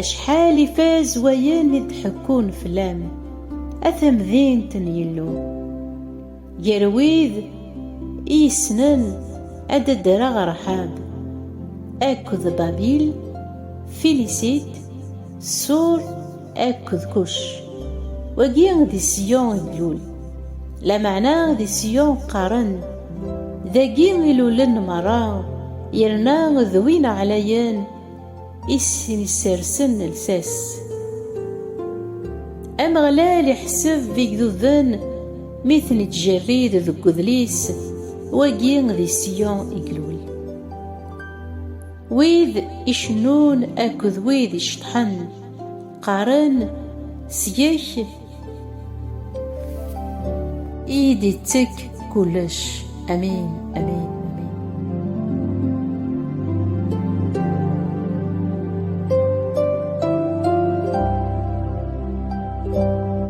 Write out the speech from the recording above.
Acḥal ifaz wayen i d-ḥekkun fell-am, a tamdint n Yillu! Ger wid i yessnen ad d-ddreɣ Raḥab akked Babil, Filisit, Sur, Akked kuc. Wagi di Siyun i d-tlul. Lameɛna di Siyun qqaren, Dagi i lulen merra, yerna d win ɛlayen i sen-issersen lsas. Ameɣlal iḥseb igduden mi ten-ittjerrid deg udlis, Wagi di Siyun i ilul. Wid icennun akked wid iceṭṭḥen. qqaren seg-k iyi-d-ittek kullec amin amin